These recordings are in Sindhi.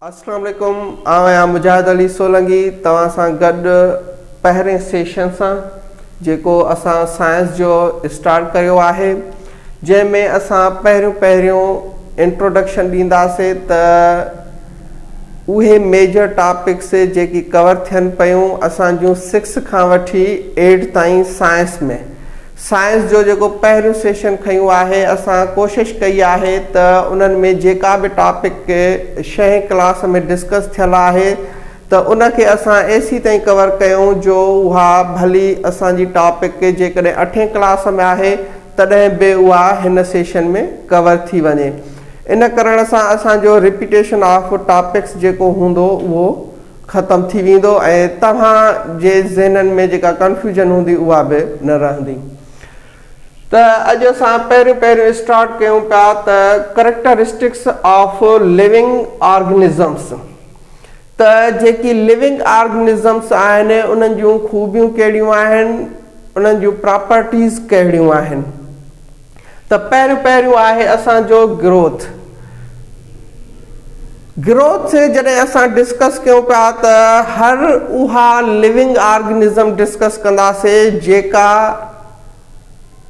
اسلام عليڪم آئون آهيان مجاهد علي سولنگي توهان سان گڏ پهرين سيشن سان جيڪو اسان سائنس جو اسٽارٽ ڪيو آهي جنهن ۾ اسان پهريون پهريون انٽروڊڪشن ڏينداسين ته اهي ميجر ٽاپڪس جيڪي ڪور ٿين پيون اسان جون سڪس کان وٺي ايٽ تائين سائنس ۾ سائنس جو جيڪو پهريون سيشن کنيو آهي اسان ڪوشش ڪئي آهي ته انهن ۾ جيڪا به ٽاپڪ شهين ڪلاس ۾ ڊسڪس ٿيل آهي ته ان کي اسان ايسي تائين ڪور ڪيون جو اها ڀلي اسان جي ٽاپڪ جيڪڏهن اٺين ڪلاس ۾ آهي تڏهن به اها هن سيشن ۾ ڪور ٿي وڃي ان ڪرڻ سان اسان جو رپيٽيشن آف ٽاپڪس جيڪو هوندو اهو ختم ٿي ويندو ۽ توهان جي ذهنن ۾ جيڪا ڪنفيوزن هوندي اها به نه رهندي ته اڄ اسان پهريون پهريون اسٽارٽ ڪيون پيا ته ڪريڪٽرسٽڪس آف ليونگ آرگنزمس ته جيڪي ليونگ آرگنزمس آهن انهن جون خوبيون ڪهڙيون آهن انهن جون پراپرٽيز ڪهڙيون آهن. ته پهريون پهريون آهي اسان جو گروٿ. گروٿ جڏهن اسان ڊسڪس ڪيون پيا ته هر اها لوئنگ آرگنزم ڊسڪس ڪنداسي جيڪا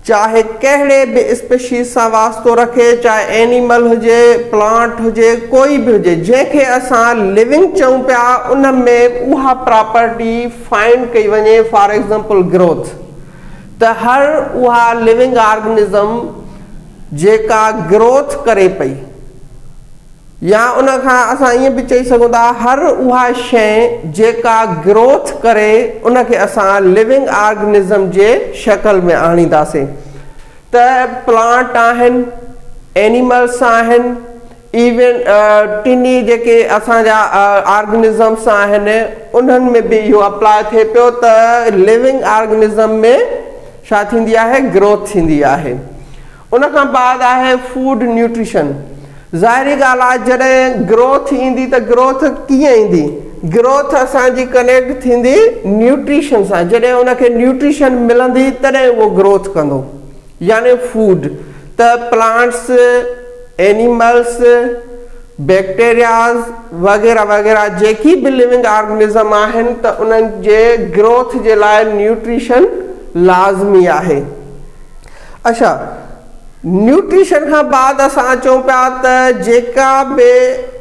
چاهي ڪهڙي به اسپيشيز سان واسطو رکي چاهي اينيمل هجي پلانٽ هجي ڪوئي به هجي جنهن کي اسان لوئنگ چئون پيا ان ۾ اها پراپرٽي فائنڊ ڪئي وڃي فار ايگزامپل گروٿ ته هر اها لونگ آرگنزم جيڪا گروٿ ڪري پئي يا ان کان اسان ائين به چئي سگهون ٿا هر اها شيء جيڪا گروٿ ڪري ان کي اسان لونگ آرگنزم جي شڪل ۾ آڻينداسين ته پلانٽ آهن، اينيملس آهن، ايون ٽنهي جيڪي اسان جا آرگنزمس آهن انهن ۾ به اهو اپلاء ٿئي پيو ته ليونگ آرگنزم ۾ ڇا ٿيندي آهي گروٿ ٿيندي آهي ان کان بعد آهي فوڊ نيوٽريشن ظاهري ڳالهه آهي جڏهن گروٿ ايندي ته گروٿ ڪيئن ايندي گروٿ اسان جي ڪنيڪٽ ٿيندي نيوٽريشن سان جڏهن ان کي نيوٽريشن ملندي تڏهن اهو گروٿ ڪندو. يعني فوڊ ته پلانٽس، اينيملس، بيڪٽيرياز وغيره وغيره جيڪي به لونگ آرگنزم آهن ته انهن جي گروٿ جي لاء نيوٽريشن لازمي آهي. اڇا نيوٽريشن کان بعد اسان اچون پيا ته جيڪا به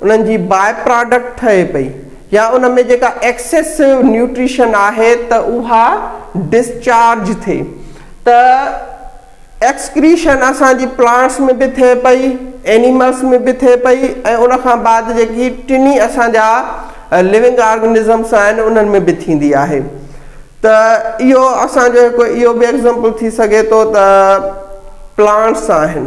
انهن جي باء پراڊڪٽ ٺهي پئي يا ان ۾ جيڪا ايڪسيسو نيوٽريشن آهي ته اها ڊسچارج ٿئي ته ايڪسڪريشن اسان جي پلانٽس ۾ به ٿئي پئي اينيملس ۾ به ٿئي پئي ۽ ان کان بعد جيڪي ٽنهي اسان جا لونگ آرگنزمس آهن انهن ۾ به ٿيندي آهي ته اهو اسان جو هڪ اهو به ايگزامپل ٿي سگهي ٿو ته پلانٽس آهن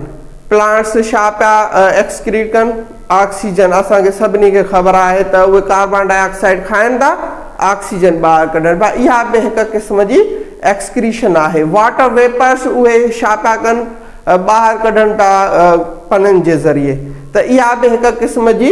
پلانٽس ڇا پيا ايڪسڪريٽ ڪن آڪسيجن اسان کي سڀني کي خبر آهي ته اهي ڪاربان ڊاء آڪسائيڊ کائن ٿا آڪسيجن ٻاهر ڪڍن پيا اها به هڪ قسم جي ايڪسڪريشن آهي واٽر ويپرس اهي ڇا پيا ڪن ٻاهر ڪڍن پيا پنن جي ذريعي ته اها به هڪ قسم جي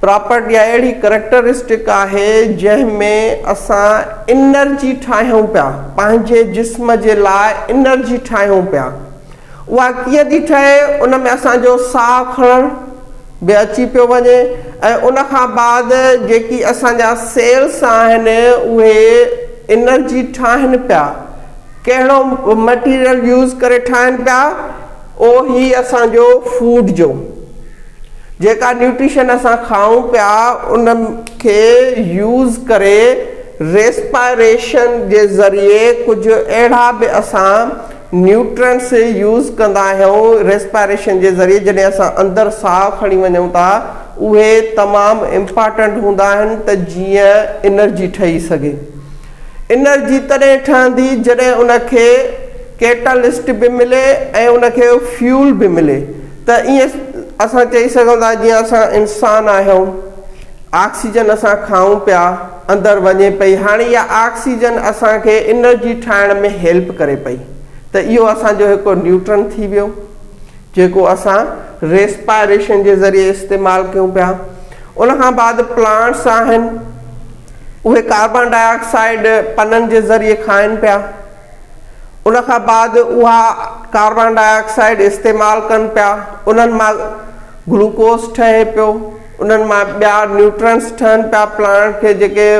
پراپرٽي يا اهڙي ڪريڪٽرسٽڪ آهي جنهن ۾ اسان انرجي ٺاهيون پيا، پنهنجي جسم جي لاء انرجي ٺاهيون پيا. اها ڪيئن ٿي ٺهي ان ۾ اسان جو ساهه کڻڻ به اچي پيو وڃي ۽ ان کان بعد جيڪي اسان جا سيلس آهن اهي انرجي ٺاهن پيا، ڪهڙو مٽيريل يوز ڪري ٺاهن پيا اهو هي اسان جو فوڊ جو. جيڪا نيوٽريشن اسان کائون پيا ان کي يوز ڪري ريسپائريشن جي ذريعي ڪجهه اهڙا به اسان نيوٽرينٽس يوز ڪندا آهيون ريسپائريشن جي ذريعي جڏهن اسان اندر ساهه کڻي وڃون ٿا اهي تمام امپارٽنٽ هوندا آهن ته جيئن انرجي ٺهي سگهي. انرجي تڏهن ٺهندي جڏهن ان کي ڪيٽالسٽ به ملي ۽ ان کي فيول به ملي ته ائين اسان چئي سگهون ٿا جيئن اسان انسان آهيون آڪسيجن اسان کائون پيا اندر وڃي پئي هاڻي اها آڪسيجن اسان کي انرجي ٺاهڻ ۾ هيلپ ڪري پئي ته اهو اسان جو هڪ نيوٽرن ٿي ويو جيڪو اسان ريسپائريشن جي ذريعي استعمال ڪيون پيا ان کان بعد پلانٽس آهن. اهي ڪاربان ڊاء آڪسائيڊ پنن جي ذريعي کائن پيا. ان کان بعد اها ڪاربان ڊاء آڪسائيڊ استعمال ڪن پيا. انهن مان گلوڪوز ٺهي پيو. انهن مان ٻيا نيوٽرنٽس ٺهن پيا پلانٽ کي جيڪي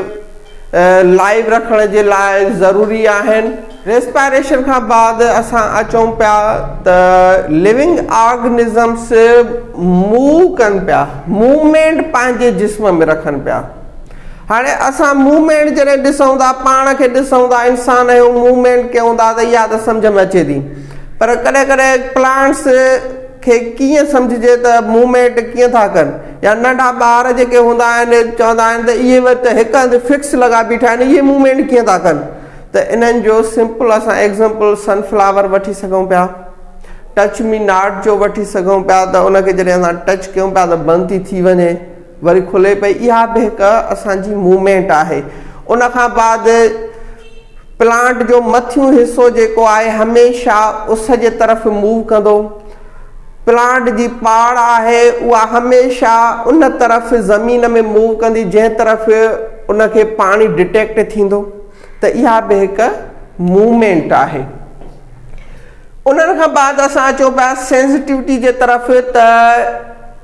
لائيو رکڻ جي لاء ضروري آهن. ريسپائريشن کان بعد اسان اچون پيا ته ليونگ آرگنزمس موو ڪن پيا، موومينٽ پنهنجي جسم ۾ رکن پيا. هاڻي اسان موومينٽ جڏهن ڏسون ٿا، پاڻ کي ڏسون ٿا، انسان آهيون، موومينٽ ڪيون ٿا ته اها ته سمجهه ۾ اچي ٿي. پر ڪڏهن ڪڏهن پلانٽس کي ڪيئن سمجهجي ته موومينٽ ڪيئن ٿا ڪن. يا ننڍا ٻار جيڪي هوندا آهن چوندا آهن ته اهي به ته هڪ هنڌ فڪس لڳا بيٺا آهن اهي موومينٽ ڪيئن ٿا ڪن. ته انهن جو سمپل اسان ايگزامپل سن فلاور وٺي سگهون پيا. ٽچ مي ناٽ جو وٺي سگهون پيا ته ان کي جڏهن اسان ٽچ ڪيون پيا ته بند ٿي ٿي وڃي. وري کلي پئي اها به هڪ اسان جي موومينٽ آهي ان کان بعد پلانٽ جو مٿيون حصو جيڪو آهي هميشه اس جي طرف موو ڪندو پلانٽ جي پاڙ آهي اها هميشه ان طرف زمين ۾ موو ڪندي جنهن طرف ان کي پاڻي ڊٽيڪٽ ٿيندو ته اها به هڪ موومينٽ آهي انهن کان بعد اسان اچو پيا سينسٽيوٽي جي طرف ته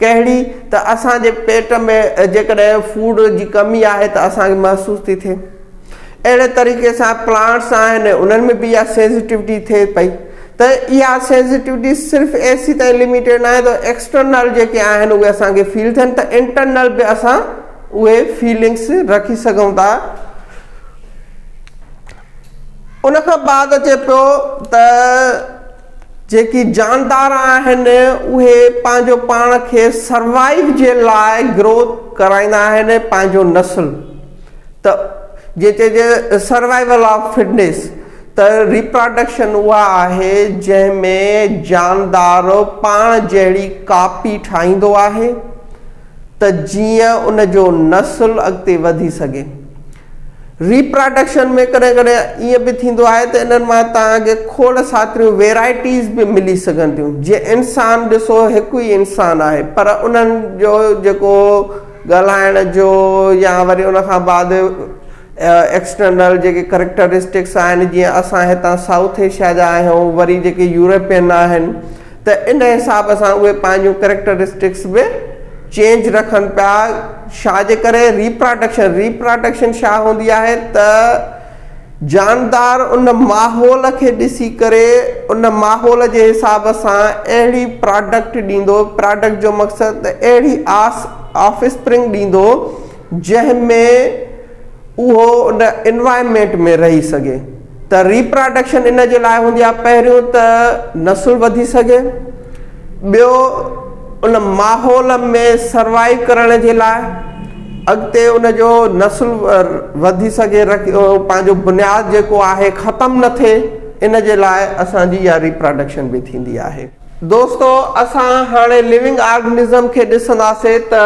ڪهڙي ته اسان جي پيٽ ۾ جيڪڏهن فوڊ جي ڪمي آهي ته اسان کي محسوس ٿي ٿئي اهڙي طريقي سان پلانٽس آهن انهن ۾ به اها سينسيٽيوٽي ٿئي پئي ته اها سينسيٽيوٽي صرف اي سي تائين لميٽيڊ ناهي ته ايڪسٽرنل جيڪي آهن اهي اسان کي فيل ٿين ته انٽرنل به اسان اهي فيلنگس رکي سگهون ٿا ان کان بعد اچي پيو ته جيڪي جاندار آهن اهي پنهنجو پاڻ کي سروائيو جي لاء گروٿ ڪرائيندا آهن پنهنجو نسل ته جيئن چئجي سروائيول آف فٽنيس ته ريپراڊڪشن اها آهي جنهن ۾ جاندار پاڻ جهڙي ڪاپي ٺاهيندو آهي ته جيئن ان جو نسل اڳتي وڌي سگهي. ري پراڊڪشن ۾ ڪڏهن ڪڏهن ائين به ٿيندو آهي ته انهن مان توهان کي کوڙ ساتريون ويرائٽيز به ملي سگهن ٿيون جيئن انسان ڏسو هڪ ئي انسان آهي پر انهن جو جيڪو ڳالهائڻ جو يا وري ان کان بعد ايڪسٽرنل جيڪي ڪريڪٽرسٽڪس آهن جيئن اسان هتان سائوٿ ايشيا جا آهيون وري جيڪي يورپين آهن ته ان حساب سان اهي پنهنجون ڪريڪٽرسٽڪس به چينج رکن پيا شا جي ڪري ريپراڊڪشن ريپراڊڪشن شا هوندي آهي ته جاندار ان ماحول کي ڏسي ڪري ان ماحول جي حساب سان اهڙي پراڊڪٽ ڏيندو پراڊڪٽ جو مقصد ته اهڙي آس آفسپرنگ ڏيندو جنهن ۾ اهو ان انوائرمينٽ ۾ رهي سگهي ته ريپراڊڪشن ان جي لاء هوندي آهي پهريون ته نسل وڌي سگهي ٻيو ان ماحول ۾ سروائيو ڪرڻ جي لاء اڳتي ان جو نسل وڌي سگهي پنهنجو بنياد جيڪو آهي ختم نه ٿئي ان جي لاء اسان جي اها ريپراڊڪشن به ٿيندي آهي دوستو اسان هاڻي لونگ آرگنزم کي ڏسنداسي ته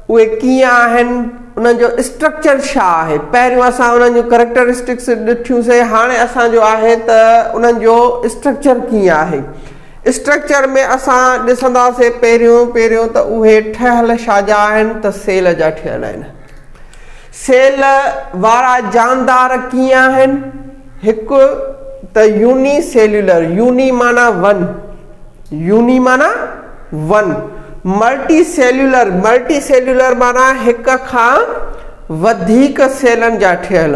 اهي ڪيئن آهن انهن جو اسٽرڪچر ڇا آهي پهريون اسان انهن جون ڪريڪٽرسٽڪس ڏٺيون سي هاڻي اسان جو آهي ته انهن جو اسٽرڪچر ڪيئن آهي اسٽرڪچر ۾ اسان ڏسنداسي پهريون پهريون ته اهي ٺهيل شاجا آهن ته سيل جا ٺهيل آهن سيل وارا جاندار ڪيئن آهن؟ هڪ ته يوني سيلولر، يوني معنيٰ ون، يوني معنيٰ one, multicellular, multicellular معنيٰ هڪ کان وڌيڪ سيلن جا ٺهيل،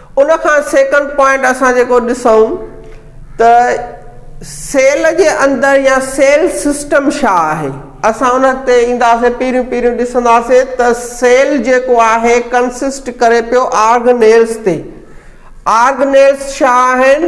ان کان سيڪنڊ پوائنٽ اسان جيڪو ڏسون ته سيل جي اندر يا سيل سسٽم ڇا آهي اسان ان تي اينداسين پهريون پهريون ڏسنداسين ته سيل جيڪو آهي ڪنسسٽ ڪري پيو آرگنيلز تي آرگنيلز ڇا آهن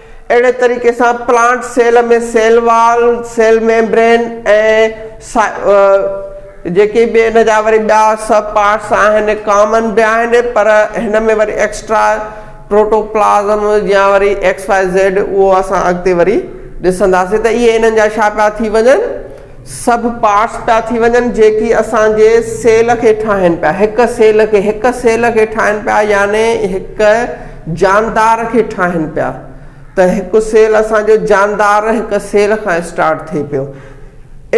اهڙي طريقي سان plant cell ۾ cell wall, cell membrane ۽ جيڪي به ان جا وري ٻيا سب پارٽس آهن ڪامن به آهن پر هن ۾ وري ايڪسٽرا پروٽوپلازم يا وري XYZ اهو اسان اڳتي وري ڏسنداسين ته اهي انهن جا ڇا پيا ٿي وڃن. سڀ پارٽس پيا ٿي وڃن جيڪي اسان جي سيل کي ٺاهن پيا هڪ سيل کي هڪ سيل کي ٺاهن پيا يعني هڪ جاندار کي ٺاهن پيا ته هڪ سيل اسان جو جاندار هڪ سيل کان اسٽارٽ ٿئي پيو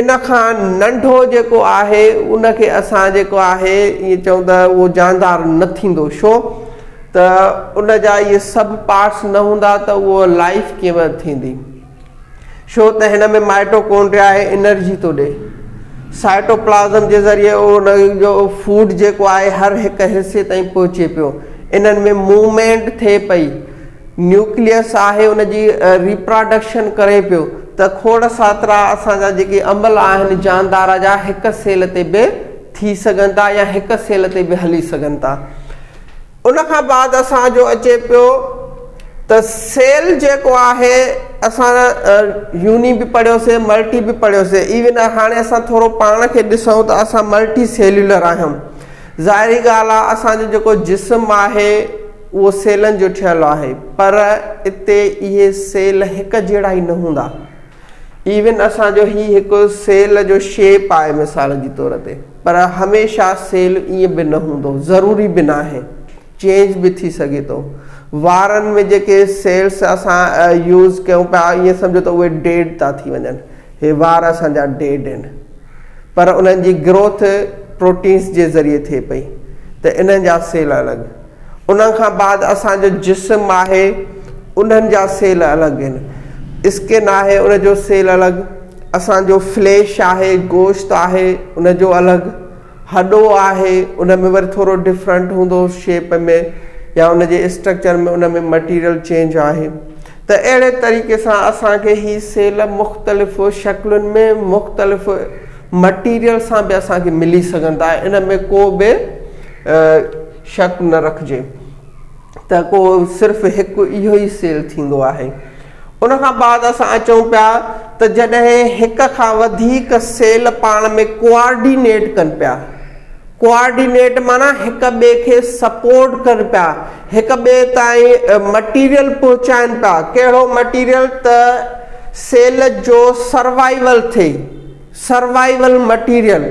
ان کان ننڍو جيڪو آهي ان کي اسان جيڪو آهي ائين چئون ته اهو جاندار نه ٿيندو شو ته ان جا اهي سڀ پارٽس نه هوندا ته اهو لائف ڪيئن ٿيندي ڇو ته هن ۾ مائٽوڪونڊريا آهي انرجي ٿو ڏئي سائٽوپلازم جي ذريعي ان جو فوڊ جيڪو آهي هر هڪ حصي تائين پهچي پيو انهن ۾ موومينٽ ٿئي پئي نيوڪليس آهي ان جي ريپراڊڪشن ڪري پيو ته کوڙ ساترا اسان جا جيڪي عمل آهن جاندار جا هڪ سيل تي به ٿي سگهن ٿا يا هڪ سيل تي به هلي سگهن ٿا ان کان بعد اسان جو اچي پيو ته سيل جيڪو آهي اسان يوني به پڙهيوسي ملٽي به پڙهيوسي ايون هاڻي اسان ٿورو پاڻ کي ڏسون ته اسان ملٽي سيلولر آهيون ظاهري ڳالهه آهي اسان جو جيڪو جسم آهي اهو سيلن جو ٺهيل آهي پر اتي اهي سيل هڪ جهڙا ئي نه هوندا ايون اسان جو هي هڪ سيل جو شيپ آهي مثال جي طور تي پر هميشه سيل ائين به نه هوندو ضروري به ناهي چينج به ٿي سگهي ٿو وارن ۾ جيڪي سيلس اسان يوز ڪيون پيا ائين سمجهو ته اهي ڊيڊ ٿا ٿي وڃن هي وار اسان جا ڊيڊ آهن پر انهن جي گروٿ پروٽينس جي ذريعي ٿئي پئي ته انهن جا سيل الڳ ان کان بعد اسان جو جسم آهي انهن جا سيل الڳ ان اسڪن آهي ان جو سيل الڳ اسان جو فليش آهي گوشت آهي ان جو الڳ هڏو آهي ان ۾ وري ٿورو ڊفرنٽ هوندو شيپ ۾ يا ان جي اسٽرڪچر ۾ ان ۾ مٽيريل چينج آهي ته اهڙي طريقي سان اسان کي هي سيل مختلف شڪلن ۾ مختلف مٽيريل سان به اسان کي ملي سگهندا ان ۾ ڪو به شڪ نه رکجي ته ڪو صرف هڪ اهو ئي سيل ٿيندو آهي. ان کان بعد اسان اچون پيا ته جڏهن هڪ کان وڌيڪ سيل پاڻ ۾ ڪوآرڊينيٽ ڪن پيا، ڪوآرڊينيٽ معنيٰ هڪ ٻئي کي سپورٽ ڪن پيا، هڪ ٻئي تائين مٽيريل پهچائن پيا، ڪهڙو مٽيريل ته سيل جو سروائيول ٿئي. سروائيول مٽيريل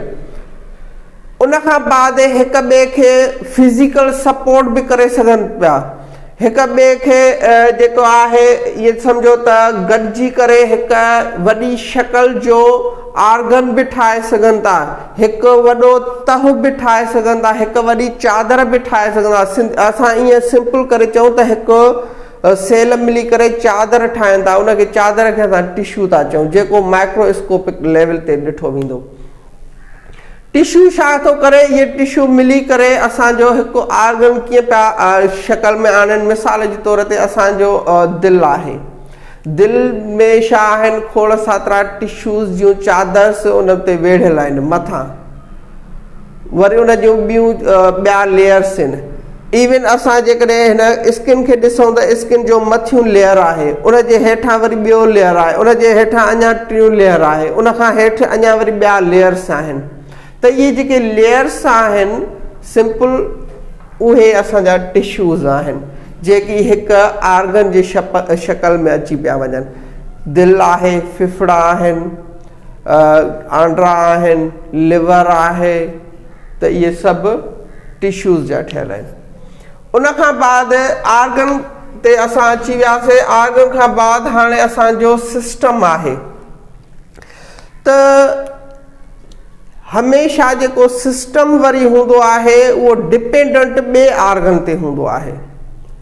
ان کان بعد هڪ ٻئي کي فزيڪل سپورٽ به ڪري سگهن پيا هڪ ٻئي کي جيڪو آهي ائين سمجهو ته گڏجي ڪري هڪ وڏي شڪل جو آرگن به ٺاهي سگهن ٿا هڪ وڏو تهه به ٺاهي سگهن ٿا هڪ وڏي چادر به ٺاهي سگهن ٿا اسان ائين سمپل ڪري چئون ته هڪ سيل ملي ڪري چادر ٺاهن ٿا، ان کي چادر کي اسان ٽشو ٿا چئون، جيڪو مائڪرو اسڪوپڪ ليول تي ڏٺو ويندو. ٽشو ڇا ٿو ڪري؟ اهي ٽشو ملي ڪري اسان جو هڪ آرگن ڪيئن پيا شڪل ۾ آڻين، مثال جي طور تي اسان جو دل آهي، دل ۾ ڇا آهن، کوڙ ساترا ٽشوز جون چادرس ان تي ويڙهيل آهن، مٿان. وري ان جون ٻيون ٻيا ليئرس آهن ايون اسان جيڪڏهن هن اسڪن کي ڏسون ته اسڪن جو مٿيون ليئر آهي ان جي هيٺان وري ٻيو ليئر آهي ان جي هيٺان اڃا ٽيون ليئر آهي ان کان هيٺ اڃا وري ٻيا ليئرس آهن ته اهي جيڪي ليئرس آهن سمپل اهي اسان جا ٽشوز آهن جيڪي هڪ آرگن جي شڪل ۾ اچي پيا وڃن دل آهي ڦڦڙا آهن آنڊا آهن، ليور آهي ته اهي سڀ ٽشوز جا ٺهيل آهن. ان کان بعد آرگن تي اسان اچي وياسي آرگن کان بعد هاڻي اسان جو سسٽم آهي ته هميشه جيڪو سسٽم وري هوندو آهي اهو ڊپينڊنٽ ٻي آرگن تي هوندو آهي.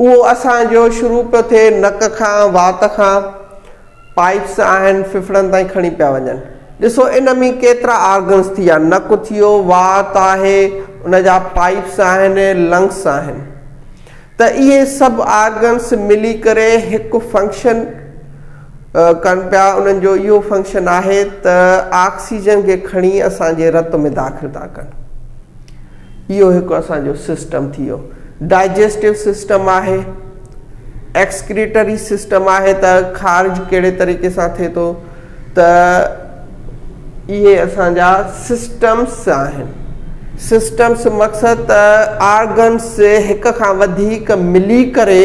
اهو اسان جو شروع پيو ٿئي نڪ کان وات کان پائيپس آهن ڦڦڙن تائين کڻي پيا وڃن ڏسو ان ۾ ڪيترا آرگنز ٿيا نڪ ٿيو وات آهي ان جا پائيپس آهن لنگس آهن ته اهي سڀ آرگنز ملي ڪري هڪ فنڪشن ڪن پيا انهن جو اهو فنڪشن آهي ته آڪسيجن کي کڻي اسان جي رت ۾ داخل ٿا ڪن اهو هڪ اسان جو سسٽم ٿي ويو ڊائجسٽو سسٽم آهي ايڪسڪريٽري سسٽم آهي ته خارج ڪهڙي طريقي سان ٿئي ٿو ته اهي اسان جا سسٽمس آهن سسٽمس مقصد ته آرگنس هڪ کان وڌيڪ ملي ڪري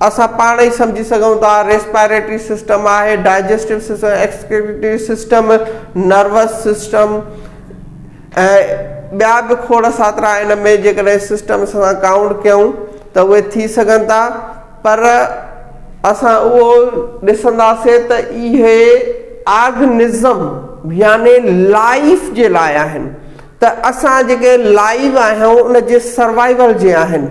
اسان پاڻ ئي سمجهي سگهون ٿا ريسپائريٽري سسٽم آهي، digestive system, excretory system, nervous system ۽ ٻيا به کوڙ ساترا ان ۾ جيڪڏهن سسٽم سان ڪائونٽ ڪيون ته اهي ٿي سگهن ٿا پر اسان اهو ڏسنداسين ته اهي آرگنزم يعني لائيف جي لاء آهن ته اسان جيڪي لائيو آهيون ان جي سروائيول جي آهن.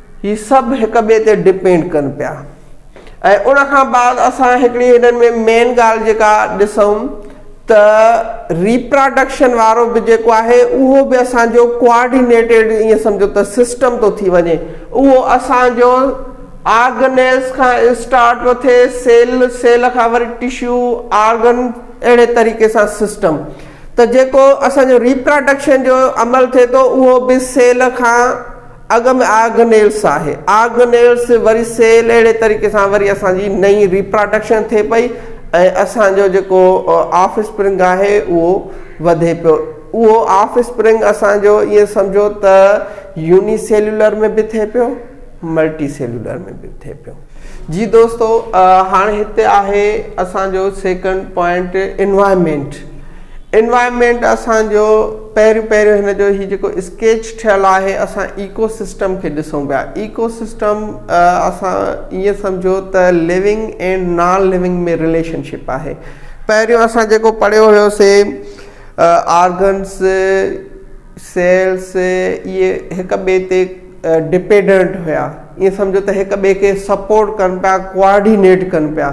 هي سڀ هڪ ٻئي تي ڊپينڊ ڪن پيا ۽ ان کان بعد اسان هڪڙي هنن ۾ مين ڳالهه جيڪا ڏسون ته ريپراڊڪشن وارو به جيڪو آهي اهو به اسان جو ڪوآرڊينيٽيڊ ائين سمجهو ته سسٽم ٿو ٿي وڃي اهو اسان جو آرگنيز کان اسٽارٽ ٿو ٿئي سيل سيل کان وري ٽشو آرگن اهڙي طريقي سان سسٽم ته جيڪو اسان جو ريپراڊڪشن جو عمل ٿئي ٿو اهو به سيل کان اڳ ۾ آرگنيلس آهي آرگنيلس وري سيل اهڙي طريقي سان وري اسان جي نئين ريپراڊڪشن ٿئي پئي ۽ اسان جو جيڪو آف اسپرنگ آهي اهو وڌي پيو اهو آف اسپرنگ اسان جو ائين سمجهو ته يوني سيلولر ۾ به ٿئي پيو ملٽي سيلولر ۾ به ٿئي پيو. جي دوستو هاڻ هتي آهي اسان جو سيڪنڊ پوائنٽ انوائرمينٽ انوائرمينٽ اسان جو پهريون پهريون هن جو هي جيڪو اسڪيچ ٺهيل آهي اسان ايڪو سسٽم کي ڏسون پيا ايڪو سسٽم اسان ائين سمجهو ته living and non living ۾ relationship آهي پهريون اسان جيڪو پڙهيو هيوسي آرگنس سيلز اهي هڪ ٻئي تي ڊپيڊنٽ هيا ائين سمجهو ته هڪ ٻئي کي سپورٽ ڪن پيا ڪوآرڊينيٽ ڪن پيا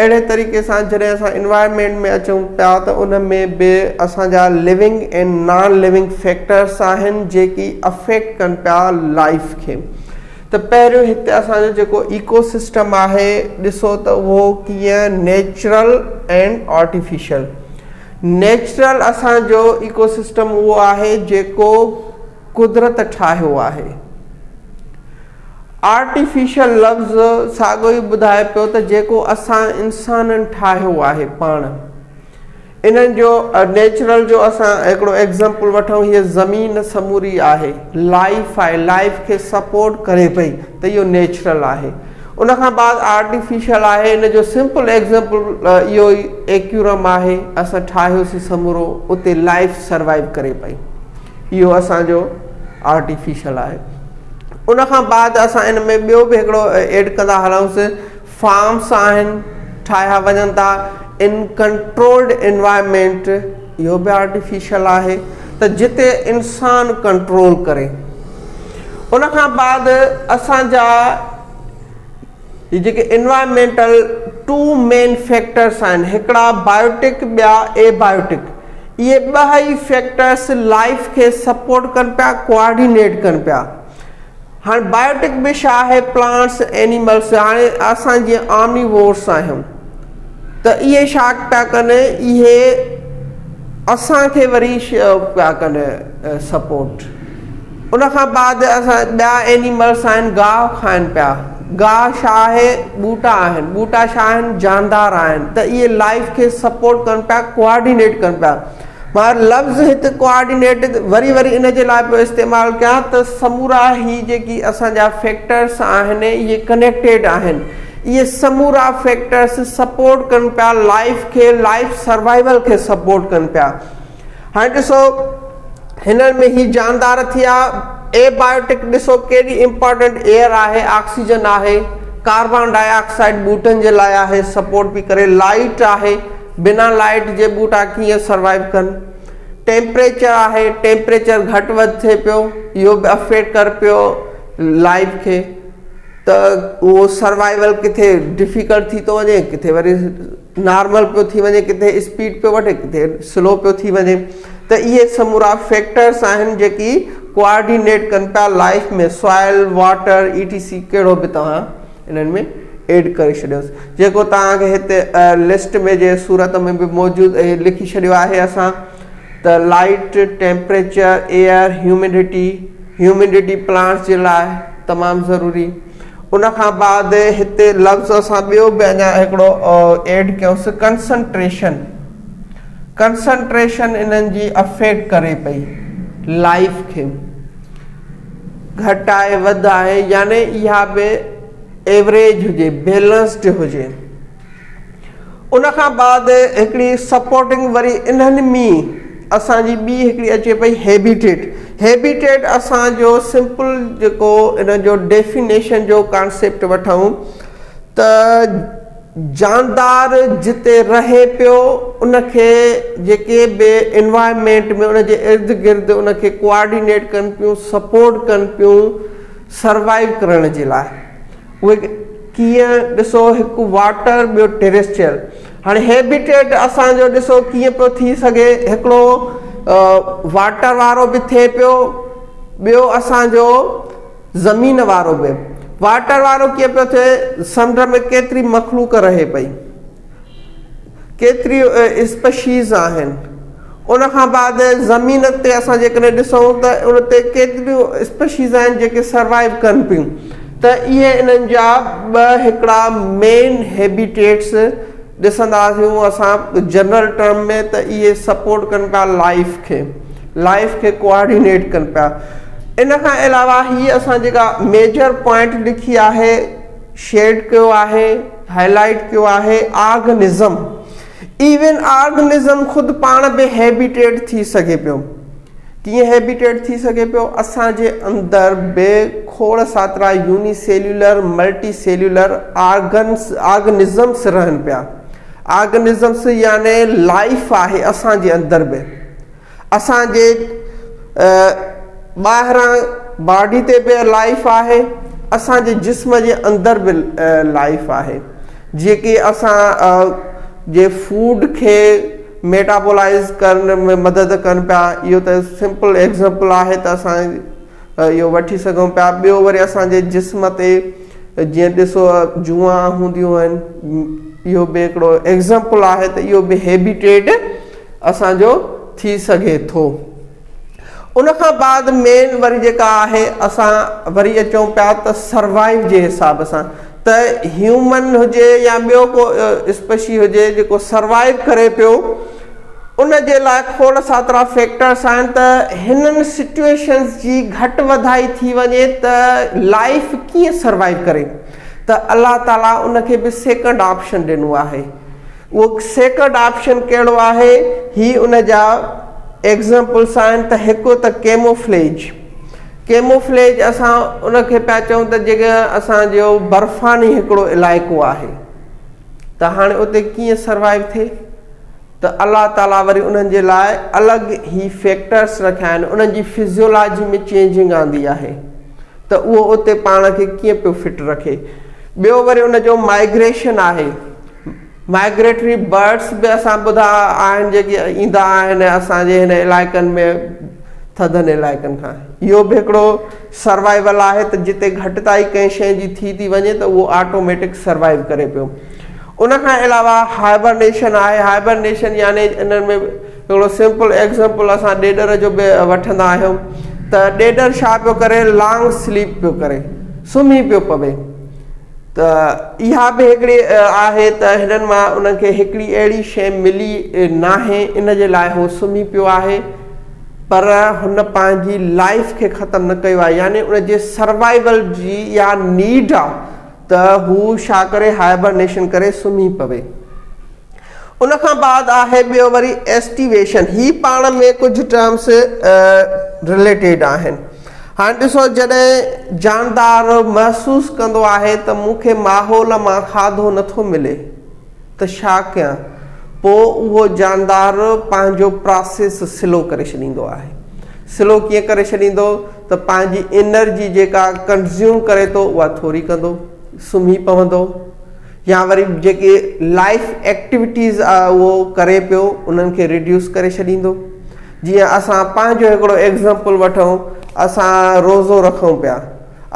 اهڙي طريقي سان جڏهن اسان انوائرمينٽ ۾ اچون پيا ته ان ۾ به اسانجا لوينگ ۽ نان لوينگ فيڪٽرس آهن جيڪي افيڪٽ ڪن پيا لائيف کي ته پهريون هتي اسانجو جيڪو ايڪو سسٽم آهي ڏسو ته اهو ڪيئن نيچرل ۽ آرٽيفيشل نيچرل اسان جو ايڪو سسٽم اهو آهي جيڪو قدرت ٺاهيو آهي. آرٽيفيشل لفظ ساڳيو ئي ٻڌائي پيو ته جيڪو اسان انسانن ٺاهيو آهي پاڻ. انهن جو نيچرل جو اسان هڪڙو ايگزامپل وٺون هيء زمين سموري آهي لائيف آهي لائيف کي سپورٽ ڪري پئي ته اهو نيچرل آهي ان کان بعد آرٽيفيشل آهي ان جو سمپل ايگزمپل اهو ئي ايڪيورم آهي اسان ٺاهيوسين سمورو اتي لائف سروائيو ڪري پئي اهو اسان جو آرٽيفيشل آهي ان کان بعد اسان ان ۾ ٻيو به هڪڙو ايڊ ڪندا هلون سي فارمس آهن ٺاهيا وڃن ٿا ان ڪنٽرولڊ انوائرمينٽ اهو به آرٽيفيشل آهي ته جتي انسان ڪنٽرول ڪري ان کان بعد اسان جا جيڪي انوائرمينٽل ٽو مين فيڪٽرس آهن هڪڙا بايوٽڪ ٻيا اي بايوٽڪ اهي ٻه ئي فيڪٽرس لائف کي سپورٽ ڪن پيا ڪوآرڊينيٽ ڪن پيا هاڻ بائيوٽڪ به ڇا آهي پلانٽس ائنيملس هاڻي اسان جيئن آمني وورس آهيون ته اهي ڇا پيا ڪن اهي اسان کي وري پيا ڪن سپورٽ ان کان بعد اسان ٻيا ائنيملس آهن گاهه کائن پيا گاهه ڇا آهي ٻوٽا آهن ٻوٽا ڇا آهن جاندار آهن ته اهي لائف کي سپورٽ ڪن پيا ڪوآرڊينيٽ ڪن پيا مگر لفظ هت ڪوآرڊينيٽ وري وري ان جي لاء پيو استعمال ڪيان ته سمورا هي جيڪي اسان جا فيڪٽرس آهن اهي ڪنيڪٽيڊ آهن اهي سمورا فيڪٽرس سپورٽ ڪن پيا لائف کي لائف سروائيول کي سپورٽ ڪن پيا هاڻي ڏسو هنن ۾ هي جاندار ٿيا اي بايوٽڪ ڏسو ڪيڏي امپورٽنٽ ايئر آهي آڪسيجن آهي ڪاربان ڊاء آڪسائيڊ ٻوٽن جي لاء آهي سپورٽ پي ڪري لائٽ آهي بنا لائيٽ جي ٻوٽا ڪيئن سروائيو ڪن. ٽيمپريچر آهي ٽيمپريچر گهٽ وڌ ٿئي پيو اهو به افيڪٽ ڪر پيو لائيف کي ته اهو سروائيول ڪٿي ڊفيڪلٽ ٿي ٿو وڃي ڪٿي وري نارمل پيو ٿي وڃي ڪٿي اسپيڊ پيو وٺي ڪٿي سلو پيو ٿي وڃي ته اهي سمورا فيڪٽرس آهن جيڪي ڪوآرڊينيٽ ڪن پيا life ۾ soil water E T C ڪهڙو به توهان انهن ۾ ايڊ ڪري ڇڏيوس جيڪو توهان کي هتي لسٽ ۾ جي صورت ۾ به موجود اهي لکي ڇڏيو آهي اسان ته light temperature air humidity humidity plants جي لاء تمام ضروري ان کان بعد هتي لفظ اسان ٻيو به اڃا هڪڙو ايڊ ڪيوس ڪنسنٽريشن ڪنسنٽريشن انهن جي افيڪٽ ڪري پئي لائف کي گهٽ آهي وڌ آهي يعني اها به ايوريج هجي بيلنسڊ هجي ان کان بعد هڪڙي سپورٽنگ وري انهن مين اسان جي ٻي هڪڙي اچي پئي هيبيٽيٽ هيبيٽيٽ اسان جو سمپل جيڪو ان جو ڊيفينيشن جو ڪانسيپٽ وٺون ته جاندار جتي رهي پيو ان کي جيڪي به انوائرمينٽ ۾ ان جي ارد گرد ان کي ڪوآرڊينيٽ ڪن پيون سپورٽ ڪن پيون سروائيو ڪرڻ جي لاء اهي ڪيئن ڏسو هڪ واٽر ٻيو ٽيريسٽريل هاڻي هيبيٽيٽ اسان جو ڏسو ڪيئن پيو ٿي سگهي هڪڙو واٽر وارو به ٿئي پيو ٻيو اسان جو زمين وارو به واٽر وارو ڪيئن پيو ٿئي، سمنڊ ۾ ڪيتري مخلوق رهي پئي، ڪيتريون اسپشيز آهن، ان کان بعد زمين تي اسان جيڪڏهن ڏسون ته ان تي ڪيتريون اسپشيز آهن جيڪي سروائيو ڪن پيون ته اهي انهن جا ٻه هڪڙا مين هيبيٽيٽس ڏسندا آهيون اسان جنرل ٽرم ۾ ته اهي سپورٽ ڪن پيا لائيف کي لائيف کي ڪوآرڊينيٽ ڪن پيا ان کان علاوه هي اسان جيڪا ميجر پوائنٽ لکي آهي شيڊ ڪيو آهي هائي لائيٽ ڪيو آهي آرگنزم ايون آرگنزم خود پاڻ به هيبيٽيٽ ٿي سگهي پيو ڪيئن هيبيٽيٽ ٿي سگهي پيو؟ اسان جي اندر به کوڙ ساترا unicellular, multicellular organisms رهن پيا. آرگنزمس يعني لائيف آهي اسان جي اندر به. اسان جي ٻاهران باڊي تي به لائيف آهي، اسان جي جسم جي اندر به لائيف آهي. جيڪي اسان جي فوڊ کي ميٽابولائيز ڪرڻ ۾ مدد ڪن پيا اهو ته سمپل ايگزمپل آهي ته اسان اهو وٺي سگهون پيا ٻيو وري اسان جي جسم تي جيئن ڏسو جوئا هونديون آهن اهو به هڪڙو ايگزمپل آهي ته اهو به هيبيٽيڊ اسان جو ٿي سگهي ٿو ان کان بعد مين وري جيڪا آهي اسان وري اچون پيا ته سروائيو جي حساب سان ته هيومن هجي يا ٻيو ڪو اسپشي هجي جيڪو سروائيو ڪري پيو ان جي لاء کوڙ ساترا فيڪٽرس آهن ته هنن سچوئيشنس جي گهٽ وڌائي ٿي وڃي ته لائيف ڪيئن سروائيو ڪري ته الله تعالي ان کي به سيڪنڊ آپشن ڏنو آهي اهو سيڪرڊ آپشن ڪهڙو آهي؟ هي ان جا ايگزيمپلس آهن ته هڪ ته ڪيموفليج ڪيموفليج اسان ان کي پيا چئون ته جيڪي اسان جو برفاني هڪڙو علائقو آهي ته هاڻي اتي ڪيئن سروائيو ٿئي ته الله تعالي وري انهن جي لاء الڳ هي فيڪٽرس رکيا آهن انهن جي فزيولاجي ۾ چينجنگ آندي آهي ته اهو اتي پاڻ کي ڪيئن پيو فٽ رکي ٻيو وري ان جو مائگريشن آهي مائگريٽري برڊس به اسان ٻڌا آهن جيڪي ايندا آهن ۽ اسان جي هن علائقن ۾ ٿڌن علائقن کان اهو به هڪڙو سروائيول آهي ته جتي گهٽتائي ڪنهن شيء جي ٿي ٿي وڃي ته اهو آٽوميٽڪ سروائيو ڪري پيو ان کان علاوه هائبرنيشن آهي هائبرنيشن يعني انهن ۾ هڪڙو سمپل ايگزمپل اسان ڏيڏر جو به وٺندا آهيون ته ڏيڏر ڇا پيو ڪري لانگ سليپ پيو ڪري سمهي پيو پوي ته اها به هڪڙي آهي ته هنن مان انهن کي هڪڙي اهڙي شيء ملي ناهي ان جي لاء هو سمهي پيو آهي پر هن پنهنجي لائيف کي ختم نه ڪيو آهي يعني ان جي سروائيول جي اها نيڊ آهي ته هو ڇا ڪري هائبرنيشن ڪري سمهي پوي. ان کان بعد آهي ٻيو وري ايسٽيويشن هي پاڻ ۾ ڪجهه ٽرمس رليٽيڊ آهن هاڻي ڏسو جڏهن جاندار محسوس ڪندو آهي ته مون کي ماحول مان کاڌو نٿو ملي ته ڇا ڪيان پو اهو جاندار پنهنجو پراسيس سلو ڪري ڇڏيندو آهي سلو ڪيئن ڪري ڇڏيندو ته پنهنجي انرجي جيڪا ڪنزيوم ڪري ٿو اها ٿوري ڪندو سمهي پوندو يا وري جيڪي لائيف ايڪٽيوٽيز اهو ڪري پيو انهن کي ريڊيوس ڪري ڇڏيندو جيئن اسان پنهنجو هڪڙو ايگزامپل وٺون اسان روزو رکون پيا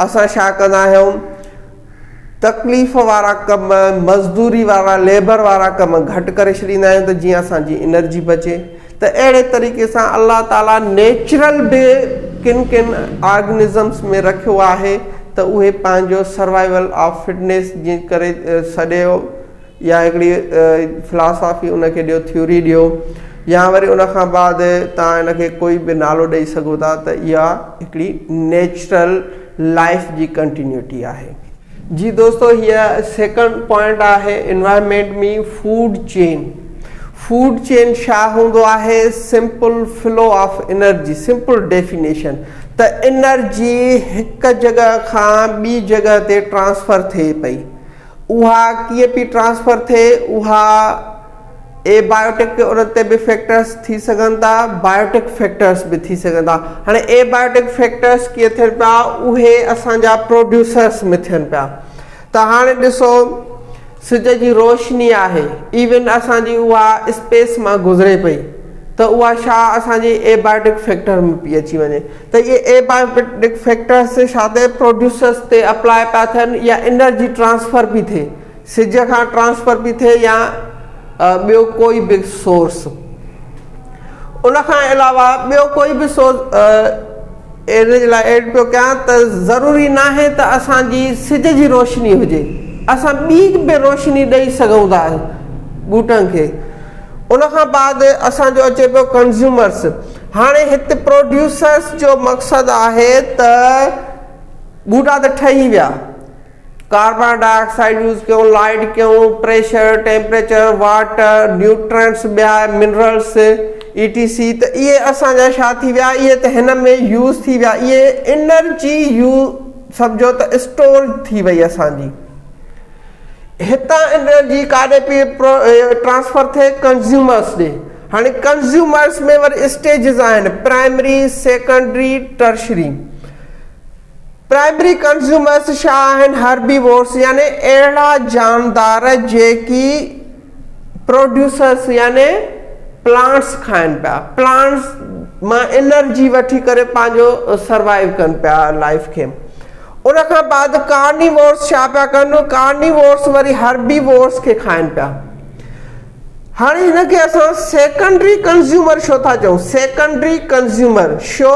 اسان ڇا ڪندا آهيون تڪليف وارا ڪم مزدوري وارا ليبر وارا ڪم گهٽ ڪري ڇڏيندا آهيون ته جيئن اسان جي انرجي بچي ته اهڙي طريقي سان الله تعاليٰ نيچرل به ڪن ڪن آرگنزمس ۾ رکيو آهي ته اهي پنهنجو سروائيول آف فٽنيس جي ڪري سڏيو يا هڪڙي فلاسافي ان کي ڏيو ٿيوري ڏيو يا وري ان کان بعد توهان ان کي ڪوئي به نالو ڏئي سگهو ٿا ته اها هڪڙي نيچرل لائيف جي ڪنٽينيوٽي آهي. جي دوستو هيء سيڪنڊ پوائنٽ آهي انوائرمينٽ مي فوڊ چين فوڊ چين شا هوندو آهي simple flow of energy simple definition ته انرجي هڪ جڳهه کان ٻي جڳهه تي ٽرانسفر ٿئي پئي اها ڪيئن پي ٽرانسفر ٿئي اها اي بائيوٽڪ تي انهن تي به فيڪٽرس ٿي سگهن ٿا بائيوٽڪ فيڪٽرس به ٿي سگهن ٿا هاڻي اي بائيوٽڪ فيڪٽرس ڪيئن ٿين پيا اهي اسان جا پروڊيوسرس ۾ ٿين پيا ته هاڻي ڏسو سج جي روشني آهي ايون اسان جي اها اسپيس مان گذري پئي ته اها شا اسان جي اي بائيوٽڪ فيڪٽر ۾ پئي اچي وڃي ته اهي اي بائيوٽڪ فيڪٽرس شا تي پروڊيوسرس تي اپلاء پيا ٿين يا انرجي ٽرانسفر پئي ٿئي سج کان ٽرانسفر پي ٿئي يا ٻيو ڪوئي به سورس ان کان علاوه ٻيو ڪوئي به سورس ان جي لاء ايڊ پيو ڪيان ته ضروري ناهي ته اسان جي سج جي روشني هجي اسان ٻي به روشني ڏئي سگهون ٿا ٻوٽن کي ان کان بعد اسان جو اچي پيو ڪنزيومرس هاڻي هت پروڊيوسرس جو مقصد آهي ته ٻوٽا ته ٺهي ويا ڪاربان ڊاء آڪسائيڊ يوز ڪيون، لائيٽ ڪيون، پريشر، ٽيمپريچر، واٽر، نيوٽرينٽس، ٻيا منرلس اي ٽي سي ته اهي اسان جا ڇا ٿي ويا اهي ته هن ۾ يوز ٿي ويا اهي انرجي يو سمجهو ته اسٽور ٿي وئي اسان جي هتان انرجي ڪاڏي پئي ٽرانسفر ٿئي ڪنزيومرس ڏي هاڻي ڪنزيومرس ۾ وري اسٽيجز آهن primary, secondary, tertiary. Primary consumers ڇا آهن؟ هربيوورز يعني اهڙا جاندار جيڪي پروڊيوسرز يعني پلانٽس کائن پيا، پلانٽس مان انرجي وٺي ڪري پنهنجو سروائيو ڪن پيا لائيف کي. ان کان بعد ڪارنيوورز ڇا پيا ڪن؟ ڪارنيوورز وري هربيوورز کي کائن پيا. هاڻي هن کي اسان سيڪنڊري ڪنزيومر ڇو ٿا چئون؟ سيڪنڊري ڪنزيومر شو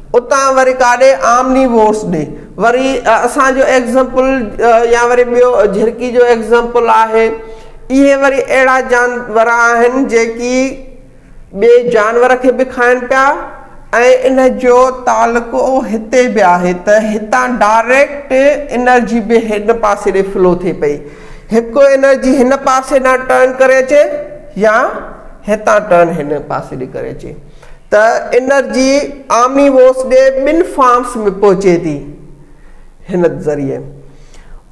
اتان وري ڪاڏي آمني وورس ڏي وري اسان جو ايگزمپل يا وري ٻيو جهرڪي جو ايگزمپل آهي اهي وري اهڙا جانور آهن جيڪي ٻئي جانور کي به کائن پيا ۽ ان جو تعلقو هتي به آهي ته هتان ڊائريڪٽ انرجي به هن پاسي ڏي فلو ٿئي پئي هڪ انرجي هن پاسي ڏانهن ٽرن ڪري اچي يا هتان ٽرن هن پاسي ڏي ڪري اچي ته انرجي عامي ووس ڏي ٻن فارمس ۾ پهچي ٿي هن ذريعي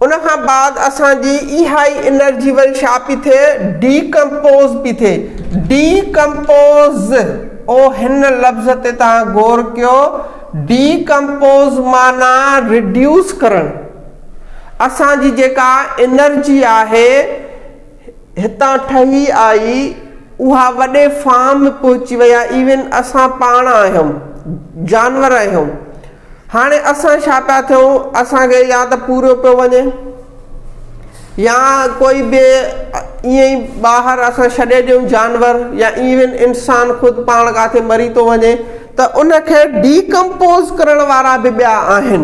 ان کان بعد اسان جي اها ئي انرجي وري ڇا پي ٿئي ڊي ڪمپوز پي ٿئي ڊي ڪمپوز او هن لفظ تي توهان غور ڪيو ڊي ڪمپوز معنيٰ ريڊيوس ڪرڻ اسان جي جيڪا انرجي آهي هتان ٺهي آئي اها وڏي فارم ۾ پهچي وئي آهي ايون اسان پاڻ آهيون جانور آهيون هاڻي اسان ڇا پيا ٿيون اسان کي يا ته پوريو پيو وڃي يا ڪوئي به ائين ئي ٻاهر اسان ڇڏي ڏيون جانور يا ايون انسان خود پاڻ ڪاٿي مري ٿو وڃي ته ان کي ڊي ڪمپوز ڪرڻ وارا به ٻيا آهن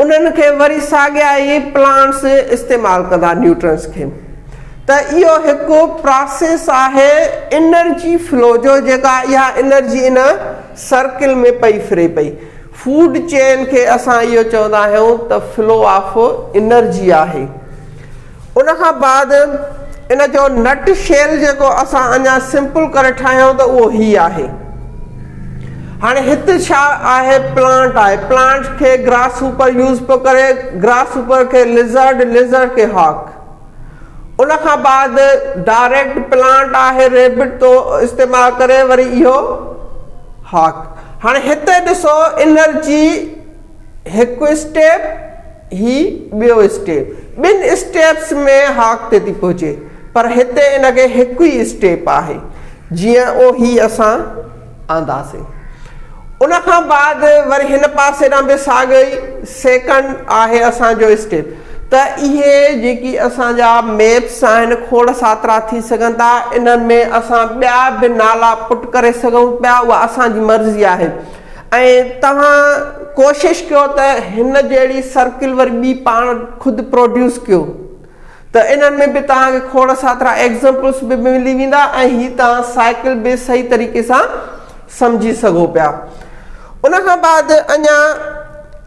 انهن کي وري ساڳيا ئي پلانٽس استعمال ڪندا نيوٽرنس کي ته اهو هڪ پراسيس آهي انرجي فلو جو جيڪا اها انرجي ان سرڪل ۾ پئي ڦري پئي فوڊ چين کي اسان اهو چوندا آهيون ته فلو آف انرجي آهي. ان کان بعد ان جو نٽ شيل جيڪو اسان اڃا سمپل ڪري ٺاهيون ته اهو هي آهي هاڻي هت ڇا آهي پلانٽ آهي پلانٽ کي گراس هوپر يوز پيو ڪري گراس هوپر کي لزرڊ لزرڊ کي هاڪ ان کان بعد ڊائريڪٽ پلانٽ آهي ريبٽ تو استعمال ڪري وري اهو هاڪ هاڻي هتي ڏسو انرجي هڪ اسٽيپ هي ٻيو اسٽيپ ٻن اسٽيپس ۾ هاڪ تي ٿي پهچي پر هتي ان کي هڪ ئي اسٽيپ آهي جيئن او هي اسان آنداسين ان کان بعد وري هن پاسي ڏانهن به ساڳئي سيڪنڊ آهي اسان جو اسٽيپ ته اهي جيڪي اسان جا ميپس آهن کوڙ ساترا ٿي سگهن ٿا انهن ۾ اسان ٻيا به نالا پٽ ڪري سگهون پيا اها اسان جي مرضي آهي ۽ توهان ڪوشش ڪيو ته هن جهڙي سرڪل وري ٻي پاڻ خود پروڊيوس ڪيو ته انهن ۾ به توهان کي کوڙ ساترا ايگزمپلس به ملي ويندا ۽ هي توهان سائيڪل به صحيح طريقي سان سمجهي سگهو پيا ان کان بعد اڃان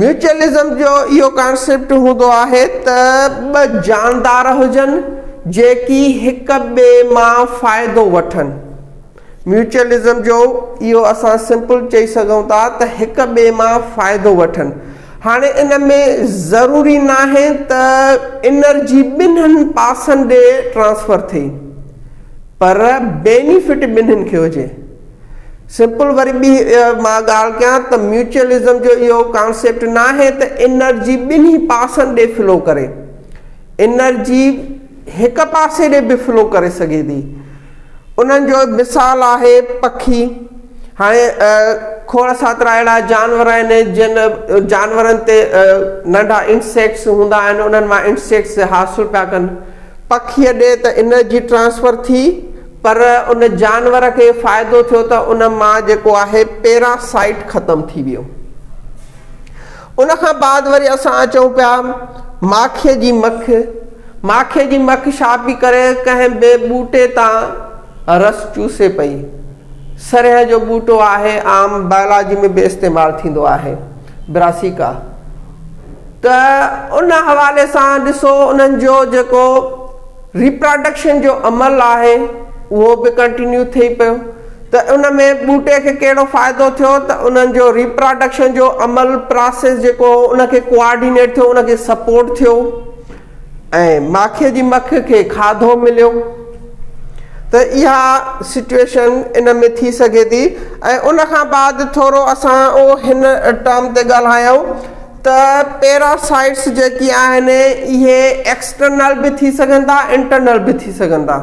ميوچلزم جو اهو ڪانسيپٽ هوندو آهي ته ٻه جاندار هجن جيڪي هڪ ٻئي مان فائدو وٺن. ميوچلزم جو اهو اسان سمپل چئي سگهون ٿا ته هڪ ٻئي مان فائدو وٺن. هاڻي ان ۾ ضروري ناهي ته انرجي ٻنهن پاسن ڏي ٽرانسفر ٿئي پر بينيفٽ ٻنهن کي هجي. سمپل وري ٻي مان ڳالهه ڪيان ته ميوچلزم جو اهو ڪانسيپٽ ناهي ته انرجي ٻنهي پاسن ڏي فلو ڪري. انرجي هڪ پاسي ڏي به فلو ڪري سگهي ٿي. انهن جو مثال آهي پکي. هاڻي کوڙ ساترا اهڙا جانور آهن جن جانورن تي ننڍا انسيڪٽس هوندا آهن انهن مان انسيڪٽس حاصل پيا ڪن. پکيء ڏي ته انرجي ٽرانسفر ٿي. پر ان جانور کي فائدو ٿيو ته ان مان جيڪو آهي پيرا سائيٽ ختم ٿي ويو. ان کان بعد وري اسان اچون پيا ماکيء جي مک، ماکيء جي مک ڇا پئي ڪري ڪنهن به ٻوٽي تان رس چوسي پئي. سرهيه جو ٻوٽو آهي عام بائلاجي ۾ به استعمال ٿيندو آهي Brassica ته ان حوالي سان ڏسو انهن جو جيڪو ريپراڊڪشن جو عمل آهي اهو به ڪنٽينيو ٿئي پيو ته ان ۾ ٻوٽي کي ڪهڙو فائدو ٿيو ته انهن جو ريپراڊڪشن جو عمل پراسيس جيڪو هو ان کي ڪوآرڊينيٽ ٿيو ان کي سپورٽ ٿيو ۽ ماکي جي مک کي کاڌو مليو ته اها سچويشن ان ۾ ٿي سگهي ٿي ۽ ان کان بعد ٿورو اسان هن ٽرم تي ڳالهايو ته پيراسائٽس جيڪي آهن اهي ايڪسٽرنل به ٿي سگهن ٿا انٽرنل به ٿي سگهن ٿا